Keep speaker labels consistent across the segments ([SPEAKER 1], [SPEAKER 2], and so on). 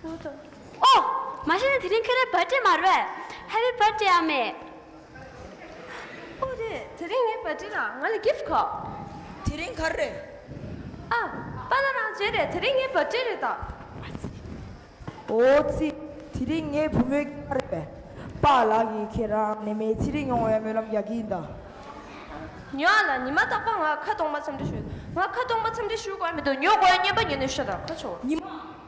[SPEAKER 1] ཁོ་དང། ཨོ། མ་གཞི་
[SPEAKER 2] ནས་དེ་རིང་ཁྱོད་རེད་བར་ཏྲེ་མ་རེད་བས། Happy Birthday ཨ་མེས། ཨོ་
[SPEAKER 1] རེད་དེ་རིང་ངའི་བར་ཏྲེ་ལ་ང་ལ gift ཁག། དེ་རིང་ག་རེ་
[SPEAKER 3] རེད། ཨ།
[SPEAKER 1] པཱ་ལ་རང་བྱས་རེད་དེ་རིང་ངའི་བར་ཏྲེ་རེད་ད། ཨོ་
[SPEAKER 3] ཙི། དེ་རིང་ངའི་བུ་མོའི་སྐྱག་རེད་བས། པཱ་ལགས་ཀྱིས་ཁྱེད་རང་ནད་མེད་ཚེ་རིང་ཡོང་བའི་སྨོན་ལམ་རྒྱག་གི་ཡིན་ད།
[SPEAKER 1] ཉོ་ཨ་ལ་ཉི་མ་རྟག་པར་ང་ཁ་སྟོང་པ་འཚམས་འདྲི་ཞུ། ང་ཁ་སྟོང་པ་འཚམས་འདྲི་ཞུ་དགོས་མི་འདུག་ཉོ་དགོས་སྙམ་པ་ཉོ་ནས་ཤོད་ད་ཁ་ཆུང་བ། ཉི་མ།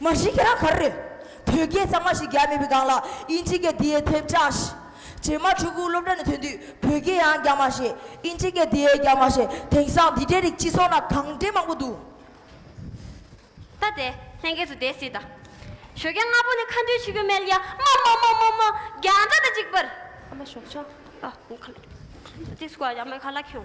[SPEAKER 2] མ་
[SPEAKER 3] གཞི་ཁྱེད་རང་ག་རེ་རེད། བོད་སྐད་གཙང་མ་ཞིག་རྒྱག་མེད་པའི་སྒང་ལ་དབྱིན་ཇི་སྐད་དེའི་ཐེབས་ཆག་ཞིག། རྗེས་མ་ཕྲུ་གུ་སློབ་གྲྭ་ནས་ཐོན་དུས་བོད་སྐད་ཡང་རྒྱག་མ་ཤེས་དབྱིན་ཇི་སྐད་དེའི་རྒྱག་མ་ཤེས་དེང་སང་འདི་འདྲའི་རིགས་སྤྱི་ཚོགས་ན་གང་དྲན་མང་པོ་འདུག། ད་དེ་
[SPEAKER 2] ལྷན་སྐྱེས་སུ་དེ་སྲིད་དང། ཞོ་རྒྱ་ལྔ་པོ་ནི་མཁའ་འགྲོའི་ཆུ་ཁྱུད་མལ་ཡ་མ་མ་མ་མ་མ་རྒྱ་འདྲ་དང་གཅིག་པར། ཨ་མ་ཞོག་ཆོག་
[SPEAKER 1] ཨ་མ་ཁ་ལ་
[SPEAKER 2] ཁྱེད་སྐུ་ཨ་ཡ་མའི་ཁ་ལ་ཁྱེའོ།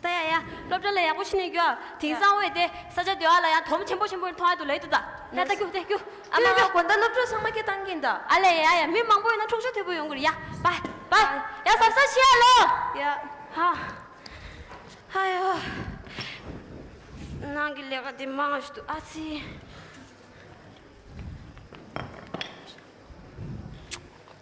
[SPEAKER 2] ད་ཡ་ཡ། སློབ་གྲྭ་ལ་ཡག་པོ་ཕྱིན་ནས་རྒྱུ་བ། དེང་སང་འོད་དེ། ས་ཆ་སྡེ་བ་ལ་ཡང་དོམ་ཆེན་པོ་ཆེན་པོ་མཐོང་ཡ་འདུག་ལ་ཡི་འདུག་ད། ད་ད་རྒྱུག་ད་རྒྱུག། ཨ་མ་ཨ། དགོན་ཟླ་སློབ་གྲྭ་
[SPEAKER 1] ཚང་མ་ཁྱེད་བཏང་གིན་ད། ཨ་ལས་ཡ་ཡ་མི་མང་པོ་
[SPEAKER 2] ཡོད་ན་འཁྲུག་ཆ་དོད་པོ་ཡོང་གི་རེད་ཡ། པ། པ། ཡ་ཟབ་ས་ཤི་ཡ་ལོ། ཡ།
[SPEAKER 1] ཧ།
[SPEAKER 2] ཧ་ཡ། ནང་གི་ལས་ཀ་དེ་མང་ཞིག་འདུག་ཨ་ཙི།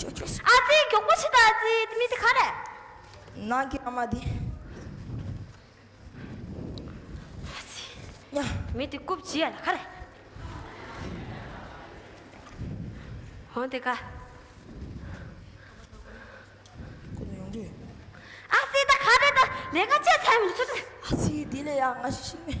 [SPEAKER 2] ཅོ་ཅོ་ཟེར། ཨ་ཙི་མགྱོགས་པོ་བྱེད་ཨ་ཙི་དེ་མི་དེ་ག་རེད། ནང་གི་
[SPEAKER 3] ཨ་མ་དེ། ཨ་ཙི། ཡ། མི་དེ་རྐུབ་
[SPEAKER 2] བྱེད་ཡ་ལ་ག་རེད། འོ་དེ་ག།
[SPEAKER 3] ཁོ་ཚོ་ཡོང་དུས། ཨ་ཙི་ད་
[SPEAKER 2] ག་རེད་ད་ལས་ཀ་བྱས་ཚར་མི་ཚོད། ཨ་ཙི་དེ་ལས་ཡག་
[SPEAKER 3] ང་ཞིག་ཤིག་མེད།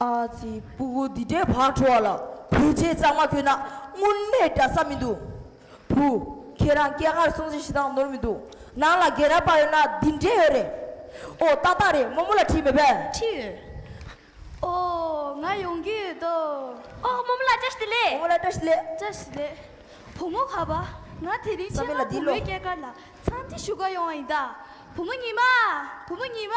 [SPEAKER 4] ཨ་
[SPEAKER 3] ཙི་སྤུ་གུ་འདི་འདྲའི་བག་དྲོ་བ་ལ་བོད་ཆས་གཙང་མ་གྱོན་ན་དངུལ་གནས་འདྲ་ས་མི་འདུག་བུ། ཁྱེད་རང་སྐྱེ་སྔར་སྲུང་བརྩི་ཞེ་སྡང་ནོར་མི་འདུག་ནང་ལ་རྒན་རབས་པ་ཡོད་ན་འདི་འདྲས་ཡོད་རེད། ཨོ་ཏག་ཏག་རེད་རྨོ་མོ་ལ་འཁྲིས་མེད་པས། འཁྲིས་
[SPEAKER 4] ཡོད། ཨོ་
[SPEAKER 5] ང་ཡོང་གི་ཡོད་དོ། ཨོ་རྨོ་མོ་
[SPEAKER 2] ལ་བཀྲ་ཤིས་ལེ། རྨོ་མོ་ལ་བཀྲ་ཤིས་ལེ། བཀྲ་
[SPEAKER 3] ཤིས་ལེ།
[SPEAKER 5] བུ་མོ་ག་པ་ང་དེ་རིང་ཆེད་མངགས་བུ་མོའི་སྐྱེས་སྐར་ལ་ཚང་ཏི་ཞུ་ག་ཡོང་བ་ཡིན་ད། བུ་མོ་ཉི་མ་བུ་མོ་ཉི་མ།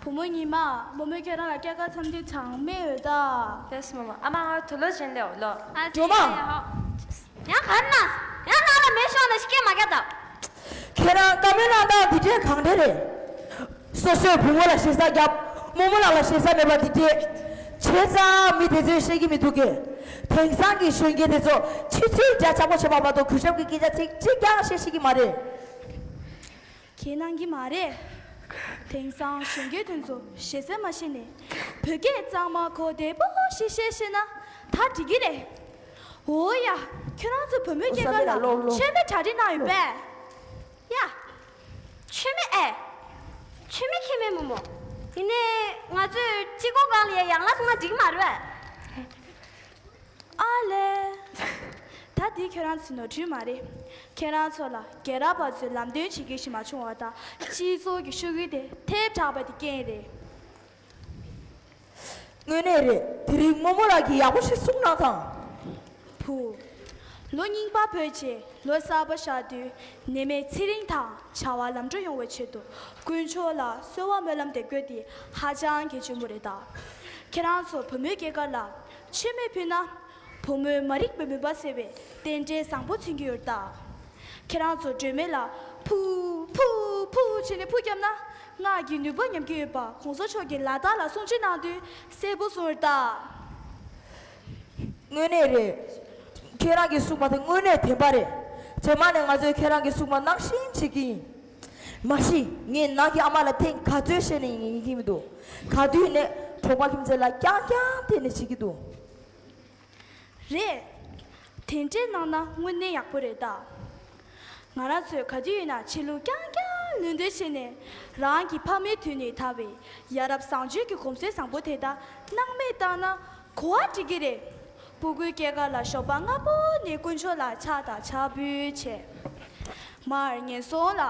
[SPEAKER 2] བུ་མོ་ཉི་མ།
[SPEAKER 5] བུ་མོ་ཁྱེད་རང་ལ་སྐྱེ་སྐར་འཚམས་འདྲི་གྲངས་མེད་ཡོད་ད། ལྷས་མོ་མོ། ཨ་མ་
[SPEAKER 1] ང་ལ་དུ་ལོ་བྱིན་ལེའོ་ལོ། སྒྲོལ་མ། ཡང་
[SPEAKER 2] ག་རེ་གནང། ཡང་ནང་ལ་མེ་ཤོང་ལ་ཤི་སྐད་མ་རྒྱག་ད། ཁྱེད་རང་
[SPEAKER 3] དགའ་མོའི་གནང་སྟངས་འདི་འདྲས་གང་འདྲས་རེད། སོ་སོས་བུ་མོ་ལ་ཞེ་ས་བརྒྱབ། མོ་མོ་ལགས་ལ་ཞེ་ས་མེད་པ་འདི་སྐད། བྱས་ཙང་མི་དེ་ཚོས་ཤེས་ཀྱི་མི་འདུག་གས། དེང་སང་གི་གཞོན་སྐྱེས་དེ་ཚོ་ཕྱི་ཚུལ་རྒྱ་ཆགས་པོ་བྱེད་པ་མ་གཏོགས་གུས་ཞབས་ཀྱི་སྐད་ཆ་ཚིག་གཅིག་ཀྱང་བཤད་ཤེས་ཀྱི་མ་རེད། ཁས་གནང་
[SPEAKER 5] གི་མ་རེད། དེང་སང་གཞོན་སྐྱེས་དེ་ཚོ་ཞེ་སེར་མ་ཤེས་ནས་བོད་སྐད་གཙང་མ་གོ་བདེ་པོ་ཞིག་བཤད་ཤེས་ན་ད་འགྲིག་གི་རེད། འོ་ཡ་ཁྱོད་རང་ཚོ་བུ་མོའི་སྐྱེས་སྐར་ལ་མཆོད་མེ་གྲ་
[SPEAKER 3] སྒྲིག་གནང་ཡོད་པས།
[SPEAKER 5] ཡ།
[SPEAKER 2] མཆོད་མེ་ཨེ། མཆོད་མེ་ཁྱེད་མེད་མོ་མོ། ཡིན་ནའི་ང་ཚོས་སྤྱི་སྒོ་སྒང་ལ་ཡ་ཡང་ལ་སོང་ན་འགྲིག་གི་མ་རེད། ཨ་
[SPEAKER 5] ལས། ད་འདི་ཁྱོད་རང་ཚོའི་ནོར་འཁྲུལ་མ་རེད། ཁྱེད་རང་ཚོ་ལ་རྒྱལ་རབས་པ་ཚོས་ལམ་སྟོན་བྱེད་ཁེ་ཞིག་མ་བྱུང་བ་དང་སྤྱི་ཚོགས་ཀྱི་ཤོག་གུ་དེ་ཐལ་དྲགས་པ་དེ་རྐྱེན་རེད། དངོས་
[SPEAKER 3] གནས་རེད་དེ་རིང་རྨོ་མོ་ལགས་ཀྱིས་ཡག་པོ་ཞིག་གསུངས་གནང་དང། བུ།
[SPEAKER 5] ལོ་རྙིང་པ་བོད་ཅེས་ལོ་གསར་པ་ཤར་དུས་ནད་མེད་ཚེ་རིང་དང་བྱ་བ་ལམ་འགྲོ་ཡོང་བའི་ཆེད་དུ་དཀོན་མཆོག་ལ་གསོལ་བ་སྨོན་ལམ་དེ་བཀོད་དེ་ཧ་ཅང་གི་ཆེན་པོ་རེད་ད། ཁྱེད་རང་ཚོ་བུ་མོའི་སྐྱེས་སྐར་ལ་མཆོད་མེ་ཕུལ་ན། བུ་མོའི་མ་རིག་པའི་མུན་པ་སེལ་བའི་རྟེན་འབྲེལ་བཟང་པོ་མཚོན་གྱི་ཡོད་ད། ཁྱེད་རང་ཚོ་སྒྲོལ་མེ་ལ་ཕུ། ཕུ། ཕུ། བྱས་ནས་ཕུ་བརྒྱབ་ན་སྔགས་ཀྱི་ནུས་པ་ཉམས་ཀྱི་ཡོད་པ་གོང་ས་མཆོག་གི་ལ་དྭགས་ལ་གསུང་བྱིན་གནང་དུས་གསལ་པོ་གསུངས་ཡོད་ད།
[SPEAKER 3] དངོས་གནས་རེད། ཁྱེད་རང་གི་སྲུང་མ་དེ་དངོས་གནས་དེ་འབའ་རེད། ཚེ་མ་ནས་ང་ཚོས་ཁྱེད་རང་གི་སྲུང་མ་གནང་བཞིན་བྱེད་ཀྱི་ཡིན། མ་གཞི་ངས་ནང་གི་ཨ་མ་ལ་ཐེངས་ག་ཚོད་བཤད་ནས་ཡིན་གྱི་མི་འདུག་ག་དུས་ནས་གྲོགས་པ་ཁྱིམ་མཚེས་ལ་རྐྱང་རྐྱང་བལྟས་ནས་བྱེད་ཀྱི་འདུག། རེད། དེ་
[SPEAKER 5] འདྲས་གནང་ན་དངོས་གནས་ཡག་པོ་རེད་ད། ང་རང་ཚོས་ག་དུས་ཡིན་ན་ཆེད་ལུགས་རྐྱང་རྐྱང་ལུས་འདོད་བྱེད་ནས་རང་གི་ཕ་མའི་དུས་ནས་དར་བའི་ཡ་རབས་བཟང་སྤྱོད་ཀྱི་གོམས་སྲོལ་བཟང་པོ་དེ་དག་སྣང་མེད་བཏང་ན་གོ་བ་འགྲིག་གི་རེད། སྤུ་གུའི་སྐྱེས་སྐར་ལ་ཞོགས་པ་སྔ་པོ་ནས་དཀོན་མཆོག་ལ་ཕྱག་དང་ཕྱག་འབུལ་བྱས། མར་ངན་སོང་ལ་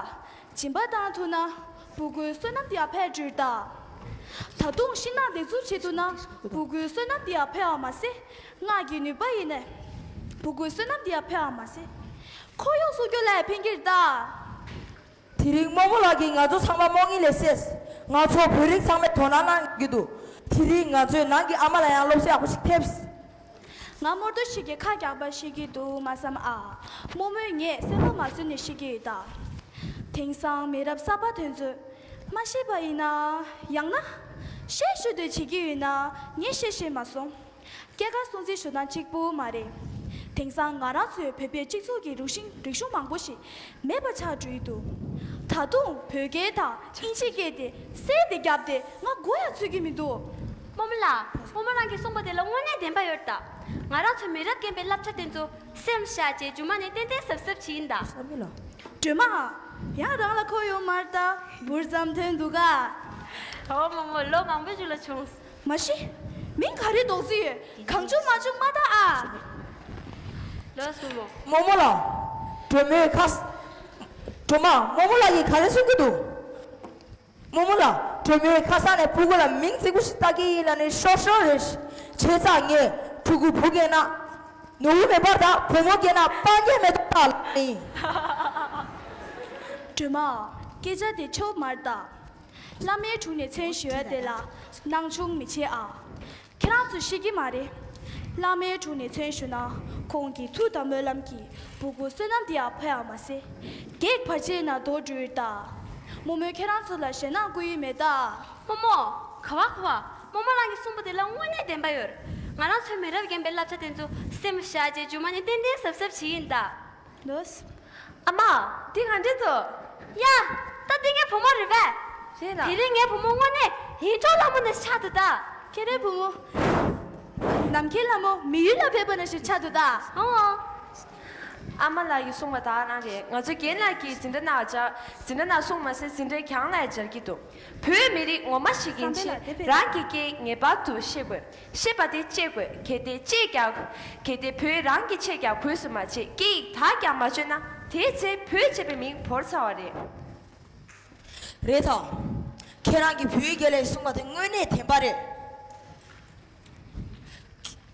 [SPEAKER 5] སྦྱིན་པ་བཏང་ཐུབ་ན་སྤུ་གུའི་བསོད་ནམས་དེའང་འཕེལ་འགྲོ་རེད་ད། ད་དུང་ཤིང་ནགས་འདེབས་འཛུགས་བྱེད་ཐུབ་ན་སྤུ་གུའི་བསོད་ནམས་དེའང་འཕེལ་བ་མ་ཟད། སྔགས་ཀྱི་ནུས་པ་ཡིས་ནི། བུ་གུའི་བསོད་ནམས་དེ་ཡང་འཕེལ་བར་མ་ཟད། འཁོར་ཡུག་སྲུང་སྐྱོབ་ལ་ཡང་ཕན་གྱིར་གདའ། དེ་
[SPEAKER 3] རིང་རྨོ་བོ་ལགས་ཀྱིས་ང་ཚོ་ཚང་མ་རྨོ་ངེས་ལས་སད། ང་ཚོ་བོད་རིགས་ཚང་མས་དོ་སྣང་གནང་གི་འདུག་དེ་རིང་ང་ཚོའི་ནང་གི་ཨ་མ་ལ་ཡང་སློབ་གསོ་ཡག་པོ་ཞིག་ཕེབས། ང་རྨོ་
[SPEAKER 5] ཏོ་ཞིག་གིས་ཁ་རྒྱག་པར་ཤེས་ཀྱི་འདུག་མ་བསམ་ཨ། རྨོ་མོས་ངས་གསལ་པོ་མ་བཟོས་ནས་ཤེས་ཀྱི་གདའ། དེང་སང་མི་རབས་གསར་པ་དེ་ཚོས། མ་ཤེས་པ་ཡིན་ན། ཡང་ན། ཤེས་ཤེས་འདོད་བྱེད་ཀྱི་ཡོད་ན་ངས་བཤད་ཤེས་མ་སོང། སྐྱེས་སྐར་སྲུང་བརྩི་ཞུ་སྟངས་གཅིག་པུ་མ་རེད། དེང་སང་ང་རང་ཚོའི་བོད་པའི་སྤྱི་ཚོགས་ཀྱི་རུག་ཤིང་རིག་གཞུང་མང་པོ་ཞིག་མེད་པ་ཆགས་འགྲོ་ཡི་འདུག་ད་དུང་བོད་སྐད་དང་དབྱིན་ཇི་སྐད་དེ་གསལ་དེ་རྒྱབ་དེ་ང་མགོ་ཡང་ཚོས་ཀྱི་མི་འདུག་སྤོ་མོ་ལགས་
[SPEAKER 2] སྤོ་མོ་རང་གིས་གསུངས་པ་དེ་ལ་དངོས་གནས་བདེན་པ་ཡོད་ད། ང་རང་ཚོའི་མི་རབས་རྒན་པའི་བསླབ་བྱ་དེ་ཚོ་སེམས་བཞག་རྗེས་རྒྱུ་མ་ནས་ཏན་ཏན་ཟབ་ཟབ་བྱེད་ཡིན་ད། སྒྲོལ་
[SPEAKER 3] མ།
[SPEAKER 5] ཡང་རང་ལ་ཁོ་ཡོད་མར་ལྟ་བུར་བརྩམས་དོན་འདུག་ག། ཨོ་མོ་མོ་
[SPEAKER 2] ལོ་མང་པོའི་རྒྱུ་ལ་བྱུང། མ་གཞི།
[SPEAKER 5] མིང་ག་རེ་འདོགས་རྩིས་ཡོད་གང་བྱུང་མ་བྱུང་མ་བལྟ་ཨ།
[SPEAKER 2] མོ་མོ་ལགས།
[SPEAKER 3] གྲོ་མོའི་ཁ། གྲོ་མ། མོ་མོ་ལགས་ཀྱིས་ག་རེ་གསུང་གི་འདུག། མོ་མོ་ལགས། གྲོ་མོའི་ཁ་སང་ནས་བུ་གུ་ལ་མིང་རྩིག་པོ་ཞིག་བཏགས་ཀྱི་ཡིན་ལ་ནི་ཤོར་ཤོར་རེད། ཆེ་ཚགས་ངས་ཕྲུ་གུ་བུ་རྒན་ན། ནུ་བོ་མེད་པར་ད་བུ་མོ་རྒན་ན་སྤང་རྒྱན་མེ་ཏོག་བཏགས་ལ་ནི། གྲོ་
[SPEAKER 5] མ། སྐད་ཆ་དེ་ཆོ་མར་བཏགས། བླ་མའི་དྲུང་ནས་མཚན་ཞུ་བ་དེ་ལ་སྣང་ཆུང་མི་བྱེད་ཨ། ཁྱེད་རང་ཚོས་ཤེས་ཀྱི་མ་རེད། བླ་མའི་དྲུང་ནས་མཚན་ཞུ་ན་ཁོང་གི་ཐུགས་དང་སྨོན་ལམ་གྱི་སྦུ་གུ་བསོད་ནམས་དེ་ཡང་ཕོ་ཡང་མ་སེ། གེགས་བར་ཆད་ན་རྡོ་སྦྲུལ་རྟ། རྨོ་མོས་ཁྱེད་རང་ཚོ་ལ་ཞེད་སྣང་བསྐུལ་ཡུལ་མེད་ད། རྨོ་མོ། ཁ་
[SPEAKER 2] བ་ཁ་བ། རྨོ་མོ་རང་གིས་གསུངས་པ་དེ་ལ་དངོས་གནས་བདེན་པ་ཡོད། ང་རང་ཚོའི་མི་རབས་རྒན་པའི་བསླབ་བྱ་དེ་ཚོ་སེམས་ཤ་ཅེ་འཇུག་མ་ནས་ཏན་ཏན་ཟབ་ཟབ་བྱེད་ཀྱིན་གདའ། ལོས།
[SPEAKER 5] ཨ་མ།
[SPEAKER 1] འདི་ག་འདྲས་འདུག། ཡ།
[SPEAKER 2] ད་འདི་ངའི་བུ་མོ་རེད་པས། རེད་ལགས། དེ་རིང་
[SPEAKER 1] ངའི་བུ་མོ་དངོས་
[SPEAKER 2] གནས་ཡིད་འཕྲོག་ལྷ་མོ་ནས་ཆགས་འདུག་ད། ཁྱེད་རའི་བུ་མོ།
[SPEAKER 5] ནམ་མཁའི་ལྷ་མོ་མི་ཡུལ་ལ་ཕེབས་པ་ནས་བཟུང་ཆགས་འདུག་ད། ཧོ། ཨ་མ་
[SPEAKER 1] ལགས་ཀྱིས་གསུངས་པ་དག་གནང་རེད་ང་ཚོ་རྒན་ལགས་ཀྱིས་ཟིན་བྲ་ནག་སྦྱར་ཟིན་བྲ་ནག་གསུངས་མ་ཟད་ཟིན་བྲའི་གྱང་ལ་ཡང་སྦྱར་གྱི་འདུག་བོད་མི་རིགས་ངོ་མ་ཤེས་མཁན་ཚོས་རང་གི་སྐད་ངེས་པར་དུ་ཤེས་དགོས། ཤེས་པ་དེ་གཅེས་དགོས་གལ་ཏེ་གཅེས་རྒྱག་གལ་ཏེ་བུས་རང་གི་ཆེད་རྒྱག་གོས་སུ་མ་བྱས་སྐད་ཡིག་དག་ཀྱང་མ་བཅོས་ན་དེའི་ཚེ་བུས་བྱས་པའི་མིང་བོར་ཚར་བ་རེད། རེད་
[SPEAKER 3] དམ། ཁྱེད་རང་གིས་བུའི་དགེ་ལས་གསུངས་པ་དེ་དངོས་གནས་དེ་འབའ་རེད།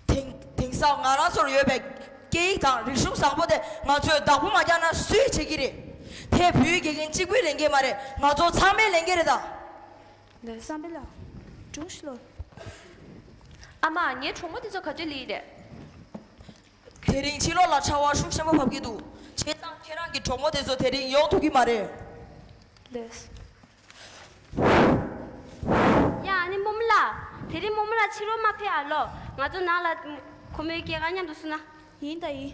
[SPEAKER 3] དེང་དེང་སང་ང་རང་ཚོར་ཡོད་པའི་སྐད་ཡིག་དང་རིག་གཞུང་བཟང་པོ་དེ་ང་ཚོས་བདག་པོ་མ་རྒྱག་ན་སུས་བྱེད་ཀྱི་རེད། དེ་བུའི་དགེ་རྒན་གཅིག་པུའི་ལས་འགན་མ་རེད་ང་ཚོ་ཚང་མའི་ལས་འགན་རེད་ད། ལས་
[SPEAKER 1] བསམ་པའི་ལག་
[SPEAKER 5] དྲུང་ཞིག་ལོ།
[SPEAKER 1] ཨ་མ། ངའི་གྲོགས་མོ་འདི་ཚོ་ག་དུས་ལེན་ཡིན་རེད།
[SPEAKER 3] དེ་རིང་ཕྱི་ལོགས་ལ་ཆར་བ་ཤུགས་ཆེན་པོ་བབས་ཀྱི་འདུག་བྱས་ཙང་ཁྱེད་རང་གི་གྲོགས་མོ་དེ་ཚོ་དེ་རིང་ཡོང་ཐུབ་ཀྱི་མ་རེད། ལས།
[SPEAKER 2] ཡ་ཨ་ནེ་རྨོ་མོ་ལགས། དེ་རིང་རྨོ་མོ་ལགས་ཕྱི་རོལ་མ་ཕེབས་ཨ་ལོ། ང་ཚོ་ནང་ལ། ཁོ་མོའི་སྐྱེས་སྐར་མཉམ་དུ་བསུ་ན། ཡིན་ད་ཡིན།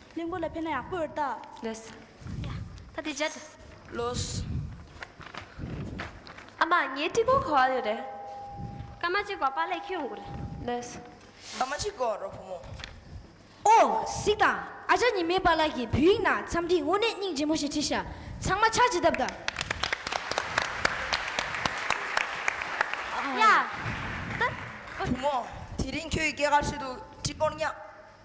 [SPEAKER 5] གླིང་བུ་ལ་ཕན་ན་ཡག་པོ་རེད་ད། ལས།
[SPEAKER 1] ད་དེ་
[SPEAKER 2] བྱ། ལོས།
[SPEAKER 1] ཨ་མ་ངའི་སྤྲི་གོར་ག་བ་ཡོད་རེད། སྐར་མ་གཅིག་
[SPEAKER 2] གོར་པ་ལས་ཁྱེར་ཡོང་དགོས་རེད། ལས། སྐར་
[SPEAKER 1] མ་གཅིག་
[SPEAKER 3] གོར་རོ་བུ་མོ། ཨོ།
[SPEAKER 4] གཟིགས་དང། ཨ་ཅག་ཉི་མའི་པ་ལགས་ཀྱིས་བོད་ཡིག་ནང་འཚམས་འདྲི་དངོས་གནས་སྙིང་རྗེ་མོ་ཞེས་བྲིས་ཤག་ཚང་མ་ཕྱག་བྱེད་ཐབས་དང།
[SPEAKER 2] ཡ། ད།
[SPEAKER 3] བུ་མོ། དེ་རིང་ཁྱོད་ཀྱི་སྐད་གར་ཤོད་འདུག་སྤྲི་གོར་བསྙགས།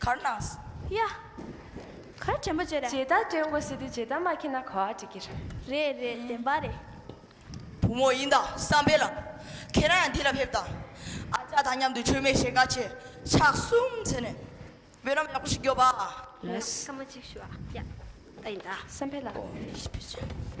[SPEAKER 3] གར་སྣང། ཡ།
[SPEAKER 5] གར་དྲན་པ་བྱེད་ར། ཇི་ལྟར་དྲན་དགོས་ཟེར་དུས་
[SPEAKER 1] ཇི་ལྟར་མ་མཁྱེན་ན་གོ་བ་འགྲིག་གི་རེད། རེད་རེད་བདེན་
[SPEAKER 5] པ་རེད། བུ་
[SPEAKER 3] མོ་ཡིན་ད་བསམ་འཕེལ་ལགས། ཁྱེད་རང་ཡང་འདི་ལ་ཕེབས་དང། ཨ་ཅག་དང་མཉམ་དུ་མཆོད་མེ་ཞེ་འགའ་བྱས། ཕྱག་གསུམ་འཚལ་ནས། བེ་རམ་ཡག་པོ་ཞིག་རྒྱོབ་ཨ། ཡིན་ནམ་སྐར་མ་གཅིག་
[SPEAKER 1] ཞུ་ཨ། ཡ།
[SPEAKER 2] ད་ཡིན་ད། བསམ་འཕེལ་ལགས།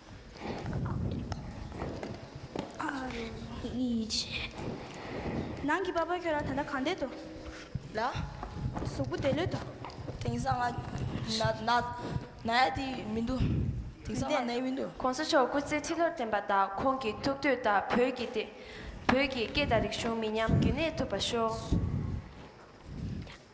[SPEAKER 5] ནང་གི་པགས་པ་ཁྱོད་རང་ད་ལྟ་གང་བསྡད་དོ། ལ།
[SPEAKER 3] གཟུགས་པོ་
[SPEAKER 5] བདེ་ལོད་དོ། དེང་སང་
[SPEAKER 3] ང། ན། ན་ཡ་དེ་མི་འདུག། དེང་སང་ང་ན་ཡ་མི་འདུག། གོང་ས་མཆོག་སྐུ་ཚེ་ཁྲི་
[SPEAKER 1] ལོར་བརྟན་པ་དང་ཁོང་གི་ཐུགས་འདོད་ལྟར་བོད་ཀྱི་སྟེ། བོད་ཀྱི་སྐད་དང་རིག་གཞུང་མི་ཉམས་རྒྱུན་གནས་ཐུབ་པ་ཤོག།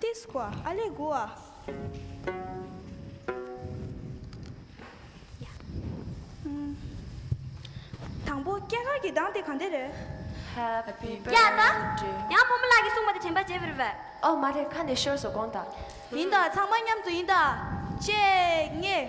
[SPEAKER 5] ཏི་སི་ཀོ་ཨ་ལེ་གུ་ཨ། དང་པོ་སྐྱེས་སྐར་གྱི་གདངས་དེ་གང་དེ་རེད།
[SPEAKER 1] ཡ་ད།
[SPEAKER 2] ཡང་བུ་མོ་ལགས་ཀྱིས་གསུངས་པ་དེ་དྲན་པ་བརྗེད་བིར་བས། ཨོ་མ་རེད་ཁ་ནས་
[SPEAKER 1] ཤོར་སོ་དགོངས་དག། ཡིན་ད་ཚང་མ་
[SPEAKER 5] མཉམ་དུ་ཡིན་ད། ཅེས་ངེས།